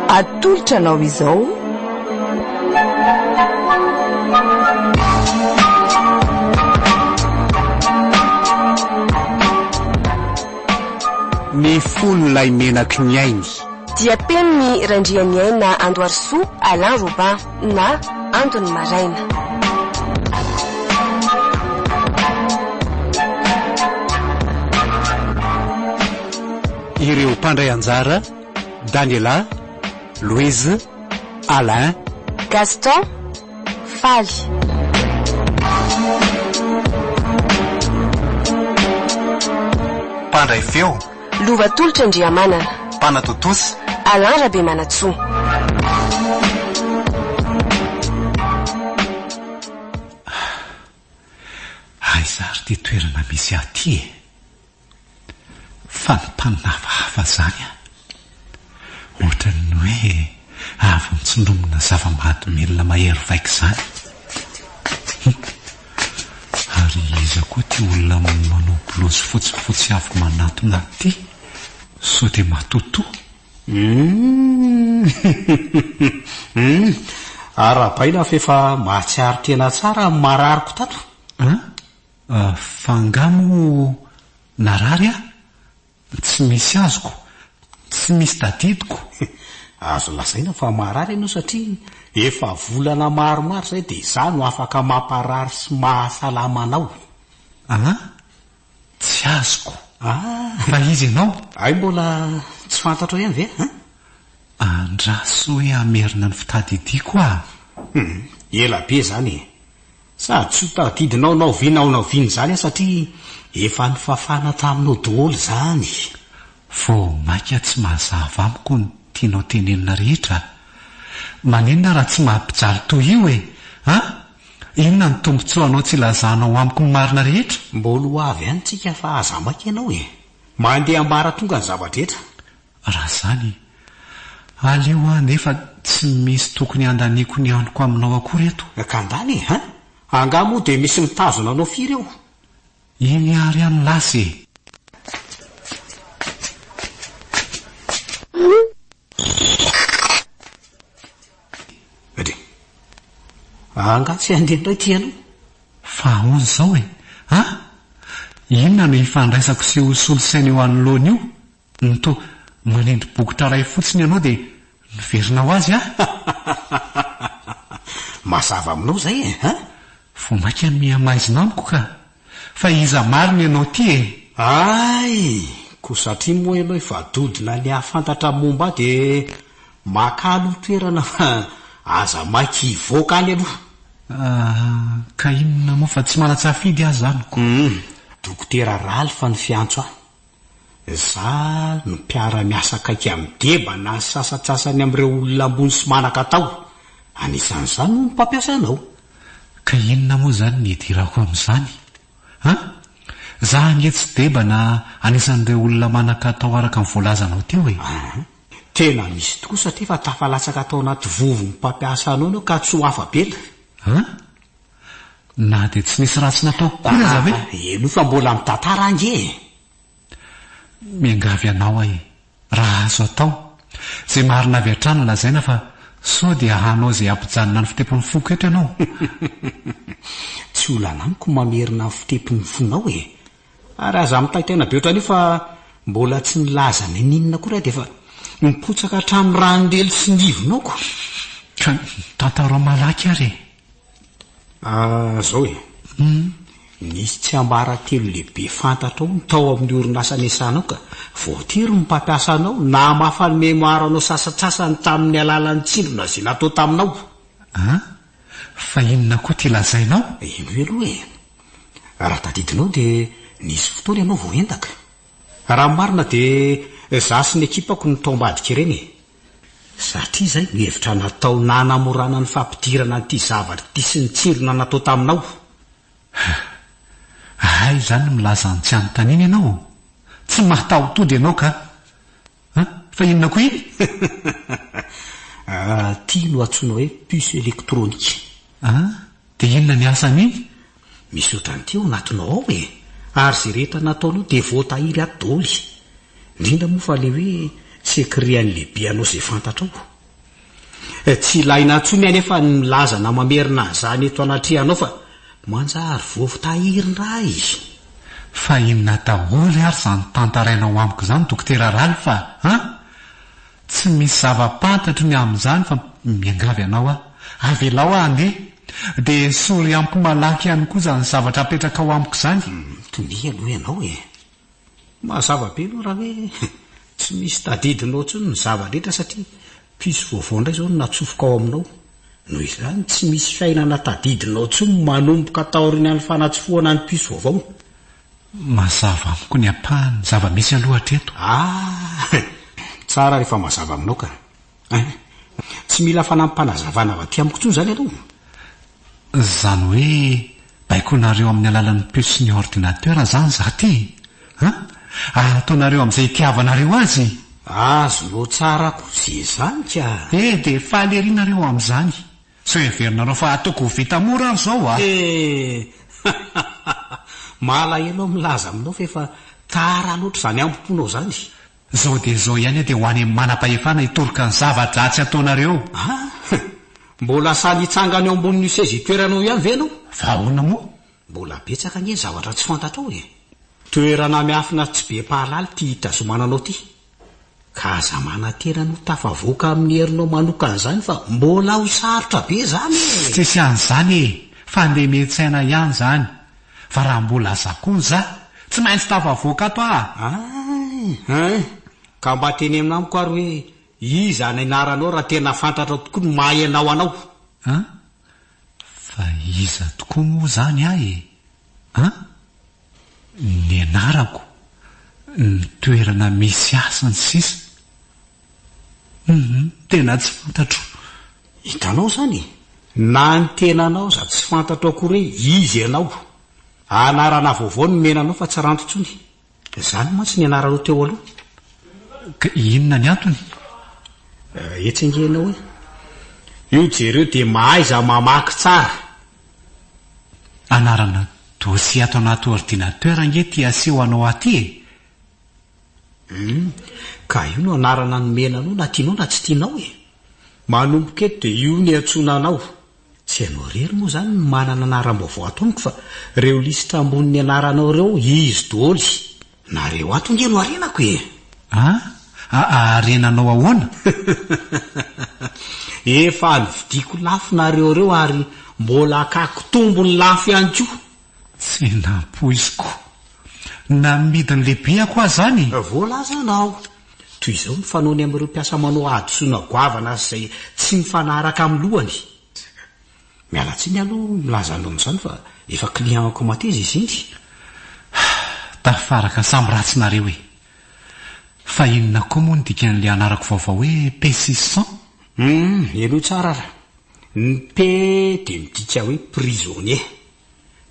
Atolotra anao izao ny fon'ilay menaky ny ainy. Diam-penin'i Randrianiaina Andoharisoa, Alain Robin. na andon'ny maraina. Ireo mpandray anjara, Daniela, Louise, Alain, Gaston, Faly. Mpandray feo. Lova tolotra Andriamanana. Mpanatontosa. Alain Rabemanantsoa. Aiza ary ity toerana misy ahy ity e? Fanontaniana hafahafa izany an! Ohatran'ny hoe avy nitsindromina zava-mahadomelina mahery vaika izany. Hum. Ary iza koa ity olona manao bolozy fotsifotsy avy manatona ity? Sao dia matotoa? Hum. Arahabaina fa efa mahatsiaro tena tsara ny marariko tato. An? Fa angaha moa narary aho? Tsy misy azoko, tsy misy tadidiko. Azo lazaina fa marary ianao satria efa volana maromaro izay dia izaho no afaka mamparary sy mahasalama anao. Ah, tsy azoko. Ah! Fa iza ianao? Hay mbola tsy fantatrao ihany ve an? Andraso hoe hamerina ny fitadidiako aho. Hum, ela be izany e! Sady tsy ho tadidinao na oviana na oviana izany aho satria efa nifafana taminao daholo izany. Vao mainka tsy mazava amiko ny tianao tenenina rehetra a! Maninona raha tsy mampijaly toy io e! A! Inona ny tombontsoanao tsy ilazanao amiko ny marina rehetra? Mbola ho avy any tsika fa aza maika ianao e! Mandeha ambaratonga ny zava-drehetra. Raha izany, aleo aho anefa tsy misy tokony handaniako ny anoko aminao akory eto. Ka angaha e! Hein! Angaha moa dia misy mitazona anao firy eo? Iny àry aho no lasa e! Angaha tsy handeha indray ity ianao? Fa ahoana izao e! An! Inona no ifandraisako sy ho solosaina eo anoloana io? Ny toa manendry bokotra iray fotsiny ianao dia miverina ho azy an! Mazava aminao izay e an! Vao mainka mihamaizina amiko ka! Fa iza marina ianao ity e? Ay! Koa satria moa ianao efa dodona ny hahafantatra momba ahy dia makà aloha toerana fa aza maika hivoaka any aloha! Ah, ka inona moa fa tsy manan-tsafidy aho izany ko! Dokotera Ralph no fiantso ahy. Za no mpiara miasa akaiky amin'i Deba na ny sasatsasany amin'ireo olona ambony sy manan-katao. Anisan'izany hono mpampiasa anao. Ka inona moa izany ny hidirako amin'izany an! Za ange tsy Deba na anisan'ireo olona manan-katao araka ny voalazanao teo e! An! Tena misy tokoa satria efa tafalatsaka tao anaty vovon'ny mpampiasa anao ianao ka tsy ho afa-bela. An! Na dia tsy nisy ratsy natao akory aza ve? Ah, enoy fa mbola mitantara ange e! Miangavy anao aho e! Raha azo atao, izay marina avy hatrany lazaina fa sao dia hanao izay hampijanona ny fitepon'ny foko eto ianao. Tsy olana amiko ny mamerina ny fitepon'ny fonao e! Ary aza mitaitaina be ohatran'io fa mbola tsy nilaza n'inon'inona akory aho dia efa mipotsaka hatramin'ny rano lely sy ny ivonao ko! Ka tantarao malaky ary e! Ah zao e. Nisy tsiambaratelo lehibe fantatrao ny tao amin'ny orinasa niasanao ka. Voatery ny mpampiasa anao namafa ny mémoire anao sasatsasany tamin'ny alalan'ny tsindry nazy natao taminao. Ah, fa inona koa ity lazainao? Henoy aloha e. Raha tadidinao dia nisy fotoana ianao vao endaka. Raha ny marina dia za sy ny ekipako no tao ambadika ireny e. Satria izay no hevitra natao nanamorana ny fampidirana an'ity zavatra ity sy ny tsirona natao taminao. Hah! Hay izany milaza an'i tsy anontaniana ianao ô! Tsy mataho-tody ianao ka! An! Fa inona koa iny? Ity no antsoina hoe puce électronique. An! Dia inona ny asan'iny? Misy otrany ty ao anatinao ao e! Ary ze rehetra nataonao de voatahiry ato doly! Ndrindra moa fa le hoe secret-an'i lehibe anao ze fantatrao! Tsy ilaina tsony anefa ny milaza na mamerina an'izany eto anatrehanao fa manjary voatahiry ndray! Fa inona daholo ary zany tantarainao amiko zany Dokotera Ralph a! Tsy misy zava-pantatro ny amin'izany fa miangavy anao aho, avelao aho handeha, dia esory amiko malaky ihany koa izany zavatra apetrakao amiko izany. Mitomia aloha ianao e! Mazava be aloha raha hoe tsy misy tadidinao intsony ny zava-drehetra satria piso vaovao indray izao no natsofoka ao aminao. Noho izany, tsy misy fiainana tadidinao intsony manomboka taorianan'ny fanatsofohana ny piso vaovao. Mazava amiko ny ampahany zava-misy aloha hatreto. Ah! Tsara rehefa mazava aminao ka. Hein? Tsy mila fanampim-panazavana avy aty amiko intsony izany aloha. Izany hoe baikoinareo amin'ny alalan'ny puce ny ordinateur izany izaho ity? Hein? Ary ataonareo amin'izay itiavanareo azy? Azonao tsara kosa izany ka. Eh, dia faly ery nareo amin'izany. Sao heverinareo fa ataoko ho vita mora ary zao a! Hehehehe! Malahelo aho milaza aminao fa efa tara loatra izany ambo-ponao izany. Zao dia zao ihany aho dia ho any manam-pahefana hitoroka ny zava-dratsy ataonareo. Ha! Mbola sahy mitsangana eo ambonin'io seza itoeranao io ihany ve ianao? Fa ahoana moa? Mbola betsaka ange ny zavatra tsy fantatrao e! Toerana miafina tsy be mpahalala ity hitazomana anao ity. Ka aza manantena ny ho tafavoaka amin'ny herinao manokana izany fa mbola ho sarotra be izany e! Tsisy an'izany e! Fandemen-tsaina ihany izany. Fa raha mbola aza koa ny za, tsy maintsy tafavoaka ato aho a! Hay! Hay! Ka mba teneno amiko ary hoe iza ny anaranao raha tena fantatrao tokoa ny maha-ianao anao. An? Fa iza tokoa moa izany ahy e? An? Ny anarako, ny toerana misy ahy sy ny sisa Humm tena tsy fantatro. Hitanao izany e! Na ny tenanao aza tsy fantatro akory hoe iza ianao. Anarana vaovao nomena anao fa tsy ranty intsony. Izany mantsy ny anaranao teo aloha. Ka inona ny antony? Eh, etsy ange ianao e. Io jereo dia mahaiza mamaky tsara. Anarana dosie ato anaty ordinateur ange ity aseho anao aty e. Hum, ka io no anarana nomena anao na tianao na tsy tianao e. Manomboka eto dia io no iantsoana anao. Tsy ianao irery moa izany no manana anaram-baovao ato amiko fa ireo lisitra ambonin'ny anaranao ireo izy doly. Nareo ato ange no harenako e! Ah? Haharenanao ahoana? Efa novidiako lafo nareo ireo ary mbola hakako tombony lafo ihany koa. Tsy nampoiziko. Namidin'ny lehibeko aho izany. Voalazanao. Toy izao ny fanaony amin'ireo mpiasa manao hadisoana goavana sy izay tsy mifanaraka amin'ny lohany. Miala tsiny aloha milaza anao amin'izany fa efa client ko mateza izy iny. Tafaraka samy ratsy nareo e! Fa inona koa moa ny dikan'ilay anarako vaovao hoe Pessisson? Hum, henoy tsara ary. Ny P dia midika hoe prisonnier.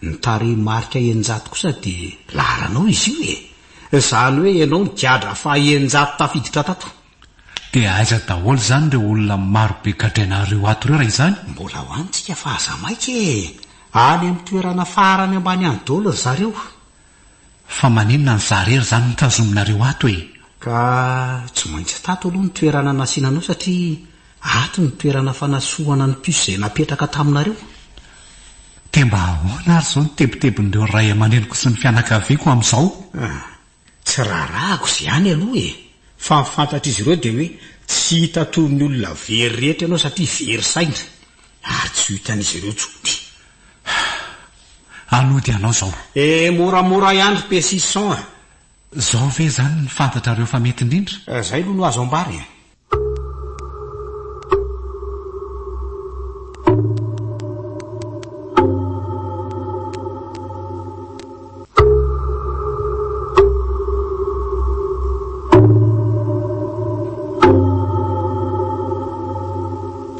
Ny tarehimarika eninjato kosa dia laharanao izy io e! Izany hoe ianao ny gadra faha eninjato tafiditra tato. Dia aiza daholo izany ireo olona marobe gadrainareo ato ireo raha izany? Mbola ho any tsika fa aza maika e! Any amin'ny toerana farany ambany any daholo ry zareo. Fa maninona ny za rery izany no tazominareo ato e? Ka tsy maintsy tato aloha ny toerana nasiana anao satria Ato ny toerana fanasohana ny puce izay napetraka taminareo. Dia mba ahoana ary izao ny tebitebin'ireo ray aman-dreniko sy ny fianakaviako amin'izao? Ah, tsy raharahako izay ihany aloha e! Fa ny fantatr'izy ireo dia hoe tsy hita toy ny olona very rehetra ianao satria very saina. Ary tsy ho hitan'izy ireo intsony. Hanody anao izao. Eh, moramora ihany ry Pessisson a! Izao ve izany no fantatrareo fa mety indrindra? Izay aloha no azo ambara e!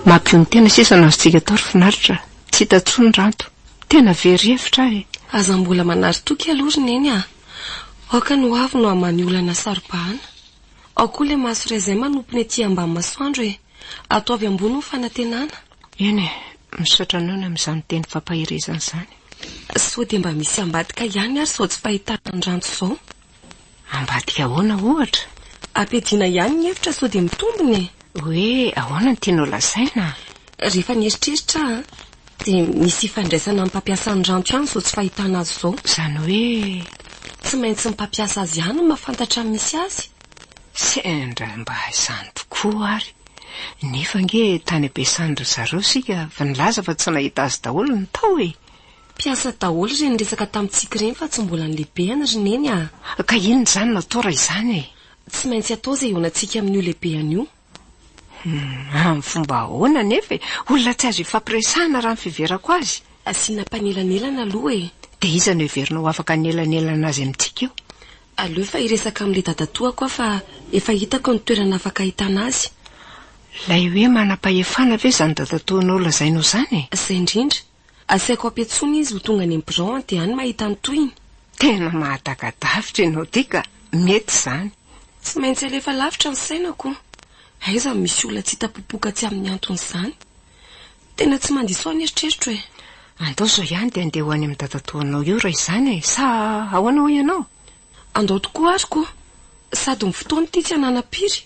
Mampidon'ny tena sisa no azontsika atao ry finaritra. Tsy hita intsony ny ranto. Tena very hevitra aho e. Aza mbola manary toky aloha ry neny ah. Aoka ny hoavy no haman'ny olana saro-bahana. Ao koa ilay maso raisin manompony aty ambany masoandro e! Ato avy ambony ny fanantenana. Eny e, misaotra anao ny amin'izany teny fampaherezana izany. Sao dia mba misy ambadika ihany ary izao tsy fahitana ny ranto izao. Ambadika ahoana ohatra? Ampiadiana ihany ny hevitra sao dia mitombina e! Hoe ahoana no tianao lazaina? Rehefa nieritreritra aho an! Dia misy ifandraisany amin'ny mpampiasa ny rancho ihany izao tsy fahitana azy izao. Izany hoe tsy maintsy ny mpampiasa azy ihany no mahafantatra ny misy azy? Sendra mba izany tokoa ary. Nefa ange tany am-piasany ry zareo isika fa nilaza fa tsy nahita azy daholo ny tao e! Mpiasa daholo ireny niresaka tamintsika ireny fa tsy mbola nilebehany ry Neny a! Ka inona izany no atao raha izany e? Tsy maintsy atao izay ihaonantsika amin'io lebehany io. Amin'ny fomba ahoana anefa e? Olona tsy azo ifampiresahana raha ny fiheverako azy. Asiana mpanelanelana aloha e! Dia iza no heverinao afaka hanelanelana azy amintsika io? Aleo efa hiresaka amin'ilay dadatoako aho fa efa hitako ny toerana afaka ahitana azy. Ilay hoe manam-pahefana ve izany dadatoanao lazainao izany e? Izay indrindra. Asaiko ampiantsoina izy ho tonga any amin'ny birao an dia any mahita ny tohiny. Tena mahataka-davitra ianao ity ka, mety izany. Tsy maintsy alefa lavitra ny sainako. Aiza no misy olona tsy hita popoka tsy amin'ny anton'izany? Tena tsy mandiso ahy ny eritreritro e! Andao izao ihany dia andeha ho any amin'ny dadatoanao eo raha izany e! Sa ahoana hoy ianao? Andao tokoa ary koa sady ny fotoana ity tsy ananam-piry.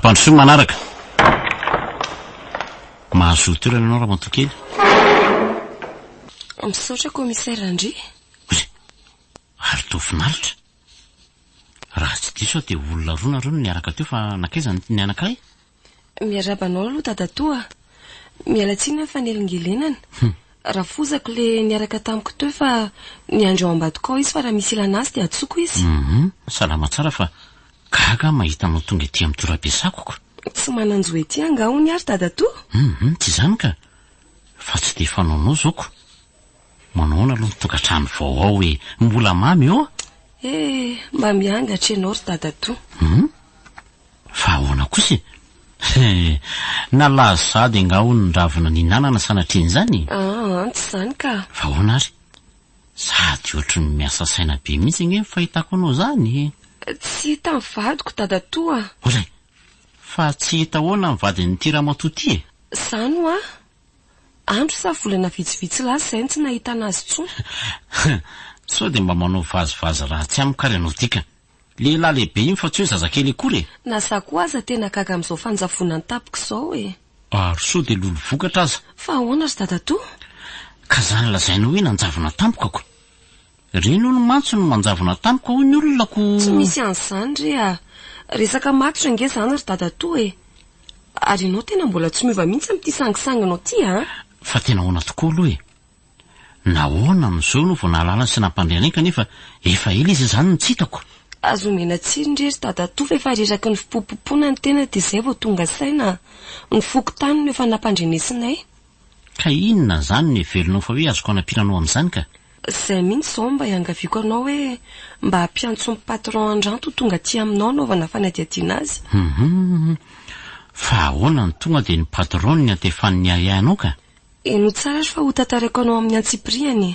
Ampandrosoy manaraka. Mahazo toerana ianao Ramatokely. Misaotra commissaire Andry. Ary toa finaritra. Raha tsy diso aho dia olona roa nareo no niaraka teo fa nankaiza ny ny anankiray? Miarahaba anao aloha dadatoa a! Miala tsiny amin'ny fanelingelenana. Rafozako le niaraka tamiko teo fa niandry ao ambadika ao izy fa raha misy ilana azy dia antsoko izy. Hum, salama tsara fa gaga aho mahita anao tonga ety amin'ny torabe sakoko. Tsy manan-jo ety angaha hono ary dadatoa? Hum, tsy izany ka! Fa tsy dia fanaonao izao ko! Manao ahoana aloha ny tokantrano vao ao e? Mbola mamy ô? Eh, mba miangatra ianao ry dadatoa. Hum? Fa ahoana kosa e? Eh, nalazo sahady angaha hono ny ravina nihinanana sanatrian'izany? Ah, tsy izany ka. Fa ahoana ary? Sady ohatry ny miasa saina be mihitsy ange ny fahitako anao izany e. Tsy hita ny vadiko, dadatoa. Olay, fa tsy hita ahoana ny vadin'ity ramatoa ity e? Izany hoa, Andro sa volana vitsivitsy lasa izay no tsy nahitana azy intsony. Sao dia mba manao vazivazy ratsy amiko ary ianao ity ka. Lehilahy lehibe iny fa tsy hoe zazakely akory e! Na za koa aza tena gaga amin'izao fanjavonan'ny tapoko izao e! Ary sao dia lolo vokatra aza. Fa ahoana ry dadatoa? Ka izany lazainao hoe nanjavona tampoko ako? Reny hono mantsy no manjavona tamiko hoy ny olona Tsy ko. misy an'izany re a! Resaka matotra ange izany ry dadatoa e! Ary ianao tena mbola tsy miova mihitsy amin'ity sangisanginao ity an! Fa tena ahoana tokoa aloha e! Nahoana amin'izao ianao vao nahalala sy nampandre anay kanefa efa ela izy izany no tsy hitako? Aza omena tsirony re ry dadatoa fa efa reraky ny fipompompona ny tena dia izay vao tonga saina. Ny fokontany no efa nampandrenesinay. Ka inona izany no heveronao fa hoe azoko anampiana anao amin'izany ka? Izay mihitsy izao no mba iangaviako anao hoe mba ampiantso ny patron Andranto ho tonga aty aminao hanaovana fanadihadiana azy. Hum. Fa ahoana no tonga dia ny patron no niantefan'ny ahiahy anao ka? Henoy tsara ary fa hotantaraiko anao amin'ny antsipirihany e.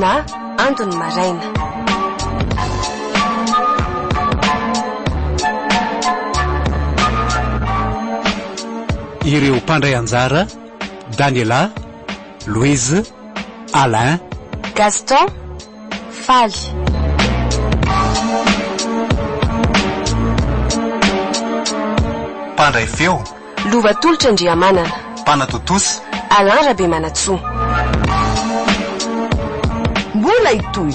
na andon'ny maraina. Ireo mpandray anjara, Daniela, Louise, Alain, Gaston, Faly. Mpandray feo. Lova tolotra Andriamanana. Mpanatontosa. Alain Rabemanantsoa. Mbola hitohy.